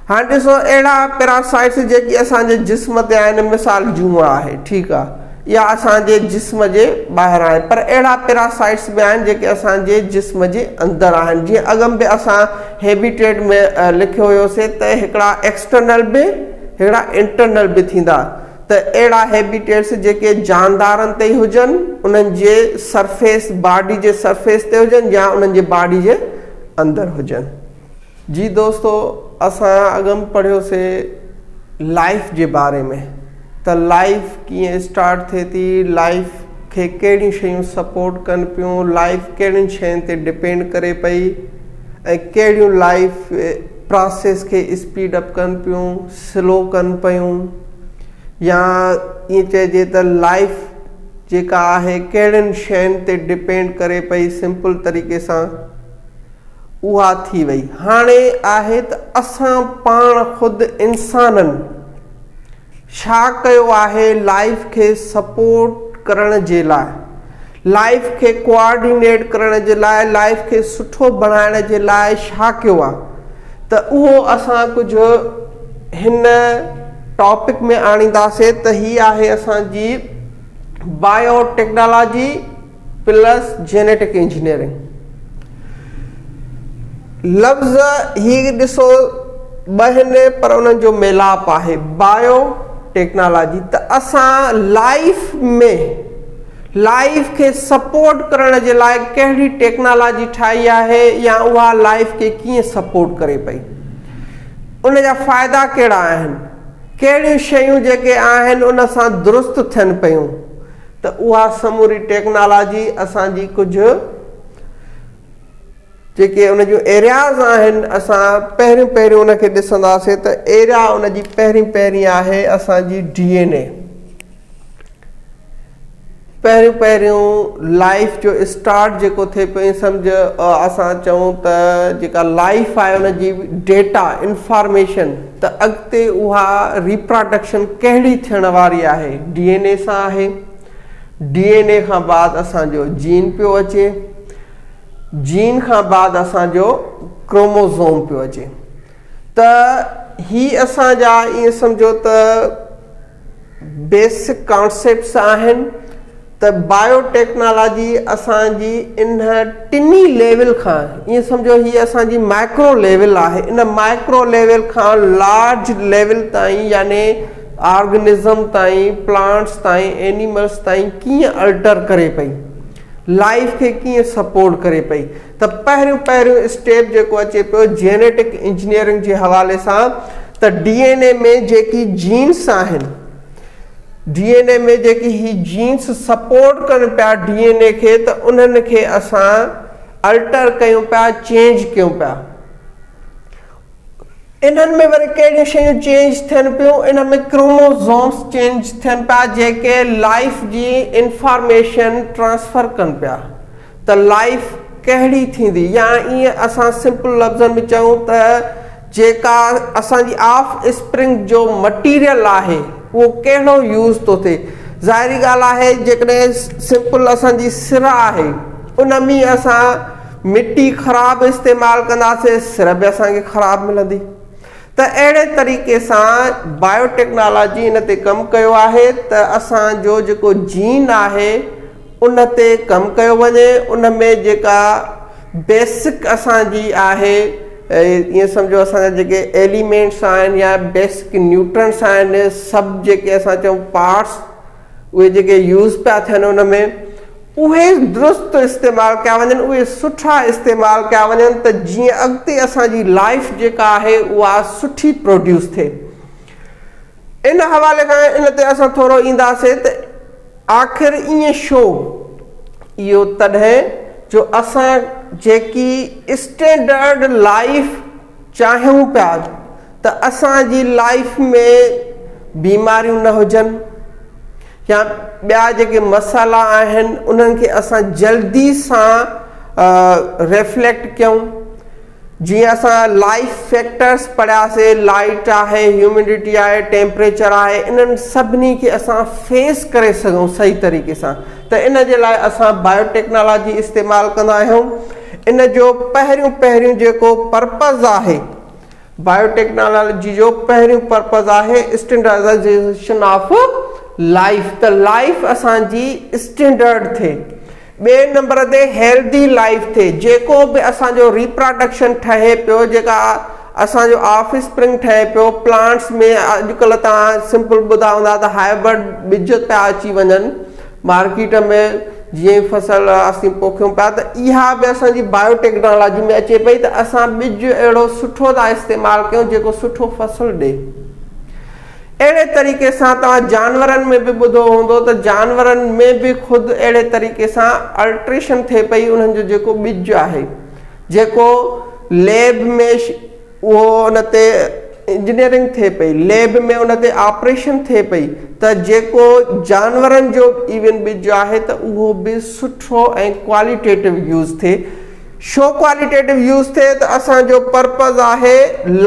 هاڻي ڏسو اهڙا پيراسائٽس جيڪي اسان جي جسم تي آهن مثال جونء آهي ٺيڪ آهي اها اسان جي جسم جي ٻاهر آهن پر اهڙا پيراسائٽس به آهن جيڪي اسان جي جسم جي اندر آهن جيئن اڳم به اسان هيبيٽيٽ ۾ لکيو هيوسي ته هڪڙا ايڪسٽرنل به هڪڙا انٽرنل به ٿيندا ته اهڙا هيبيٽيٽس جيڪي جاندارن تي ئي هجن، انهن جي سرفيس، باڊي جي سرفيس تي هجن يا انهن جي باڊي جي اندر هجن. جي دوستو اسان اڳ م پڙهيو سي لائيف جي باري ۾ ته لائيف ڪيئن اسٽارٽ ٿئي ٿي، لائيف کي ڪهڙيون شيون سپورٽ ڪن پيون، لائيف ڪهڙين شين تي ڊپينڊ ڪري پئي ۽ ڪهڙيون لائيف پراسيس کي اسپيڊ اپ ڪن پيون، سلو ڪن پيون. يا ائين چئجي ته لائيف جيڪا آهي ڪهڙين شين تي ڊپينڊ ڪري پئي سمپل طريقي سان اها ٿي وئي هاڻي آهي ته اسان پاڻ خود انسانن ڇا ڪيو آهي لائيف کي سپورٽ ڪرڻ جي لاء لائف کي ڪوآرڊينيٽ ڪرڻ جي لاء لائف کي سٺو بڻائڻ جي لاء ڇا ڪيو آ ته اهو اسان ڪجهه هن ٽاپڪ ۾ آڻينداسين ته هي آهي اسان جي biotechnology plus genetic engineering لفظ هي ڏسو ٻه هن پر انهن جو ميلاپ آهي بايو ٽيڪنالاجي ته اسان لائف ۾ لائيف کي سپورٽ ڪرڻ جي لاء ڪهڙي ٽيڪنالاجي ٺاهي آهي يا اها لائيف کي ڪيئن سپورٽ ڪري پئي؟ ان جا فائدا ڪهڙا آهن؟ ڪهڙيون شيون جيڪي آهن ان سان درست ٿين پيون ته اها سموري ٽيڪنالاجي اسان جي ڪجهه جيڪي ان جون ايرياز آهن اسان پهريون پهريون ان کي ڏسنداسين ته ايريا ان جي پهرين پهرين آهي اسان جي ڊي اين اي پهريون پهريون لائف جو اسٽارٽ جيڪو ٿئي پيو ائين سمجھ اسان چئون ته جيڪا لائف آهي ان جي ڊيٽا انفارميشن ته اڳتي اها ريپراڊڪشن ڪهڙي ٿيڻ واري آهي ڊي اين اي سان آهي ڊي اين اي کان بعد اسان جو جين پيو اچي، جين کان بعد اسان جو ڪروموزوم پيو اچي ته هي اسان جا ائين سمجهو ته بيسڪ ڪانسيپٽس آهن ته بايو ٽيڪنالاجي اسان جي انهن ٽنهي ليول کان ائين سمجهو هي اسان جي مائڪرو ليول آهي ان مائڪرو ليول کان لارج ليول تائين يعني آرگنزم تائين، پلانٽس تائين، اينيملس تائين ڪيئن الٽر ڪري پئي، لائيف کي ڪيئن سپورٽ ڪري پئي ته پهريون پهريون اسٽيپ جيڪو اچي پيو جينيٽڪ انجنيئرنگ جي حوالي سان ته ڊي اين اي ۾ جيڪي جينس آهن ڊي اين اي ۾ جيڪي هي جينس سپورٽ ڪن پيا ڊي اين اي کي ته انهن کي اسان الٽر ڪيون پيا چينج ڪيون پيا. انهن ۾ وري ڪهڙيون شيون چينج ٿين پيون انهن ۾ ڪروموزومز چينج ٿين پيا جيڪي لائيف جي انفارميشن ٽرانسفر ڪن پيا ته لائيف ڪهڙي ٿيندي يا ائين اسان سمپل لفظن ۾ چئون ته جيڪا اسان جي آف اسپرنگ جو مٽيريل آهي اهو ڪهڙو يوز ٿو ٿئي ظاهري ڳالهه آهي جيڪڏهن سمپل اسان جي سر آهي ان ۾ اسان مٽي خراب استعمال ڪنداسي سر به اسان کي خراب ملندي ته اهڙي طريقي سان بايو ٽيڪنالاجي ان تي ڪم ڪيو آهي ته اسان جو جيڪو جين آهي ان تي ڪم ڪيو وڃي ان ۾ جيڪا بيسڪ اسان جي آهي ائين سمجهو اسان جا جيڪي ايليمينٽس آهن يا بيسڪ نيوٽرنس آهن سڀ جيڪي اسان چئون پارٽس اهي جيڪي يوز پيا ٿين ان ۾ اهي درست استعمال ڪيا وڃن اهي سٺا استعمال ڪيا وڃن ته جيئن اڳتي اسان جي لائف جيڪا آهي اها سٺي پروڊيوس ٿئي ان حوالي کان ان تي اسان ٿورو اينداسين ته آخر ائين شو اهو تڏهن جو اسان جيڪي اسٽينڊرڊ لائف چاهيون پيا ته اسان جي لائيف ۾ بيماريون نه هجن يا ٻيا جيڪي مسئلا آهن انهن کي اسان جلدي سان ريفليڪٽ ڪيون جيئن اسان لائيف فيڪٽرس پڙهياسي لائيٽ آهي هيوميڊٽي آهي ٽيمپريچر آهي انهن سڀني کي اسان فيس ڪري سگهون صحيح طريقي سان ته ان جي لاء اسان بايو ٽيڪنالاجي استعمال ڪندا آهيون ان جو پهريون پهريون جيڪو پرپز آهي بائيو ٽيڪنالاجي جو پهريون پرپز آهي اسٽينڊرڊائيزيشن آف لائيف ته لائيف اسان جي اسٽينڊرڊ ٿئي ٻئي نمبر تي هيلڌي لائيف ٿئي جيڪو به اسان جو ريپراڊڪشن ٺهي پيو جيڪا اسان جو آف اسپرنگ ٺهي پيو پلانٽس ۾ اڄڪلهه توهان سمپل ٻڌا هوندا ته هائبرڊ ٻج پيا اچي وڃن مارڪيٽ ۾ جيئن فصل اسين پوکيون پيا ته اها به اسان جي بايو ٽيڪنالاجي ۾ اچي پئي ته اسان ٻج اهڙو سٺو ٿا استعمال ڪيون جيڪو سٺو فصل ڏئي. اهڙي طريقي سان توهان جانورن ۾ به ٻڌو هوندو ته جانورن ۾ به خود اهڙي طريقي سان الٽريشن ٿئي پئي انهن جو جيڪو ٻج آهي جيڪو ليب ۾ اهو ان تي انجنيئرنگ ٿئي پئي، ليب ۾ ان تي آپريشن ٿئي پئي ته جيڪو جانورن جو ايون ٻج آهي ته اهو به سٺو ۽ ڪواليٽيٽو يوز ٿئي. شو ڪواليٽيٽو يوز ٿئي ته اسان جو پرپز آهي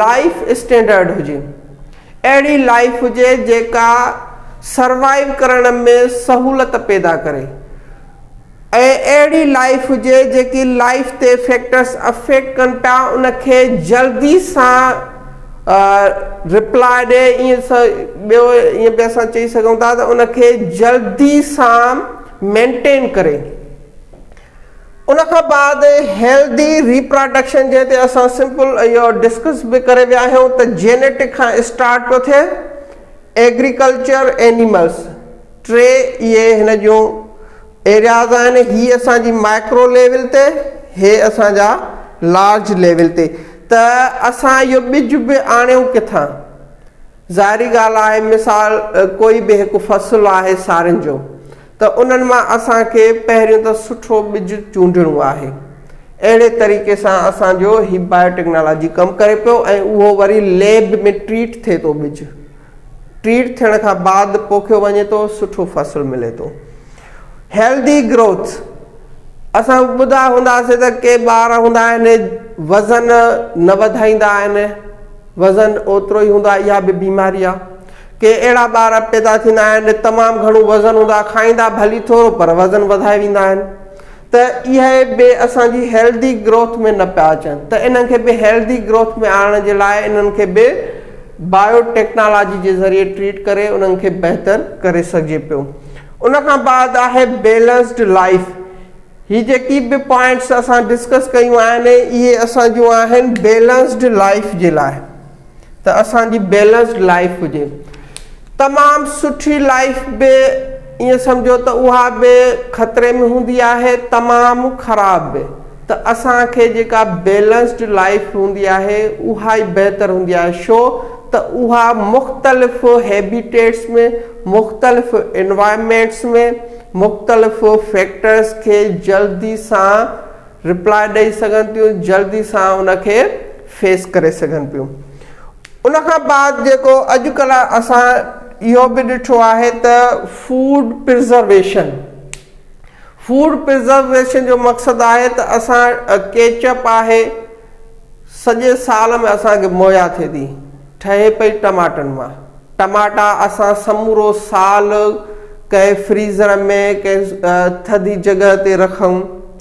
لائيف اسٽينڊرڊ هجي. اهڙي لائيف هجي جيڪا سروائيو ڪرڻ ۾ سهولت پيدا ڪري. ۽ اهڙي لائيف هجي جيڪي لائيف تي فيڪٽرس افيڪٽ ڪن پيا ان کي جلدي سان رپلاء ڏي ائين ٻيو ائين به اسان چئي سگهون ٿا ته ان کي جلدي سان مينٽين ڪري ان کان بعد هيلدي ريپراڊڪشن جنهن تي اسان سمپل اهو ڊسڪس به ڪري ويا آهيون ته جينيٽڪ کان اسٽارٽ پيو ٿئي ايگريڪلچر اينيملس ٽي اهي هن جون ايرياز آهن هي اسان جي مائڪرو ليول تي هي اسان جا لارج ليول تي ته اسان اهو ٻج به آڻيون ڪٿان ظاهري ڳالهه آهي مثال ڪوئي به هڪ فصل آهي سارين جو ته انهن مان اسان کي پهريون ته سٺو ٻج چونڊڻو آهي اهڙي طريقي سان اسان جو هي بايو ٽيڪنالاجي ڪم ڪري پيو ۽ اهو وري ليب ۾ ٽريٽ ٿئي ٿو ٻج ٽريٽ ٿيڻ کان بعد پوکيو وڃي ٿو سٺو فصل ملي ٿو هيلدي گروٿ اسان ٻڌا هونداسي ته ڪي ٻار هوندا آهن وزن نه وڌائيندا آهن وزن اوترو ئي هوندو آهي اها به بيماري آهي ڪي اهڙا ٻار پيدا ٿيندا آهن تمام گهڻو وزن هوندو آهي کائيندا ڀلي ٿورو پر وزن وڌائي ويندا آهن ته اهي به اسان جي هيلڌي گروٿ ۾ نه پيا اچن ته انهن کي به هيلڌي گروٿ ۾ آڻڻ جي لاء انهن کي به بايو ٽيڪنالاجي جي ذريعي ٽريٽ ڪري انهن کي بهتر ڪري سگهجي پيو ان کان بعد آهي بيلنسڊ لائيف هي جيڪي به پوائنٽس اسان ڊسڪس ڪيون آهن اهي اسان جون آهن بيلنسڊ لائيف جي لاء. ته اسان جي بيلنسڊ لائيف هجي تمام سٺي لائيف به ائين سمجهو ته اها به خطري ۾ هوندي آهي تمام خراب به ته اسان کي جيڪا بيلنسڊ لائيف هوندي آهي اها ئي بهتر هوندي آهي شو ته اها مختلف هيبيٽيٽس ۾ مختلف انوائرمينٽس ۾ مختلف فيڪٽرز کي جلدي سان رپلائي ڏئي سگهن ٿيون جلدي سان ان کي فيس ڪري سگهن پيون ان کان بعد جيڪو اڄ ڪلهه اسان اهو به ڏٺو آهي ته فوڊ پرزرويشن فوڊ پرزرويشن جو مقصد آهي ته اسان ڪيچپ آهي سڄي سال ۾ اسان کي مهيا ٿئي ٿي ٺهي پئي ٽماٽن مان ٽماٽا اسان سمورو سال ڪنهن فريزر ۾ ڪنهن ٿڌي جڳهه تي رکون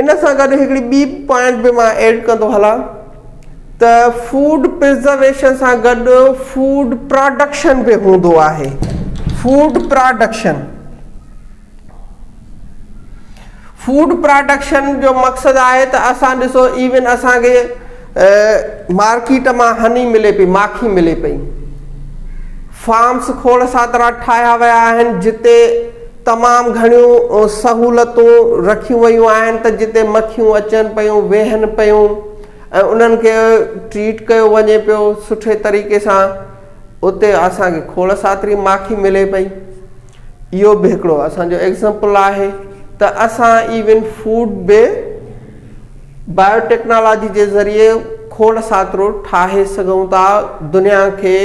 ان سان گڏ هڪڙي ٻي پوائنٽ به مان ايڊ ڪندو هلان ته فوڊ پرزرويشن سان گڏ فوڊ پراڊڪشن به هوندو آهي فوڊ پراڊڪشن فوڊ پراڊڪشن جو مقصد آهي ته اسان ڏسو ايون اسان کي مارڪيٽ مان هني ملي پئي ماکي ملي پئي فارمس کوڙ ساترا ٺاهيا ويا آهن جتي تمام گهڻيون سهولتون رکيون ويون آهن ته جتي مکيون اچن پيون ويهن پيون ۽ انهن کي ٽريٽ ڪيو وڃي پيو سٺي طريقي سان اتي اسان کي کوڙ ساتري ماکي ملي پئي اهو به هڪڙو اسان جو ايگزامپل آهي ته اسان ايون فوڊ به بايوٽيڪنالاجي جي ذريعي کوڙ ساٿرو ٺاهي سگهون ٿا دنيا کي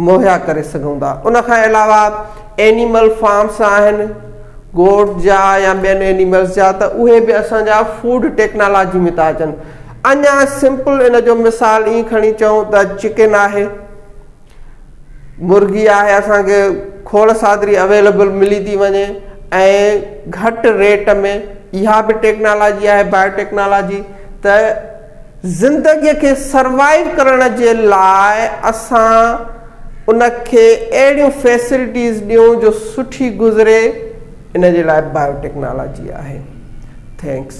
مهيا ڪري سگهون ٿا ان کان علاوه اينيمل فارمس آهن گوٽس جا يا ٻين اينيملس جا ته اهي به اسان جا فوڊ ٽيڪنالاجي ۾ ٿا اچن اڃا سمپل ان جو مثال ائين کڻي چئون ته چڪن آهي مرغي آهي اسان کي کوڙ سادري اويلبل ملي ٿي وڃي ۽ گهٽ ريٽ ۾ اها به ٽيڪنالاجي آهي بايو ٽيڪنالاجي ته زندگيء کي سروائو ڪرڻ جي لاء اسان ان کي اهڙيون فيسلٽيز ڏيون جو سٺي گذري ان جي لاء بايو ٽيڪنالاجي آهي ٿينڪس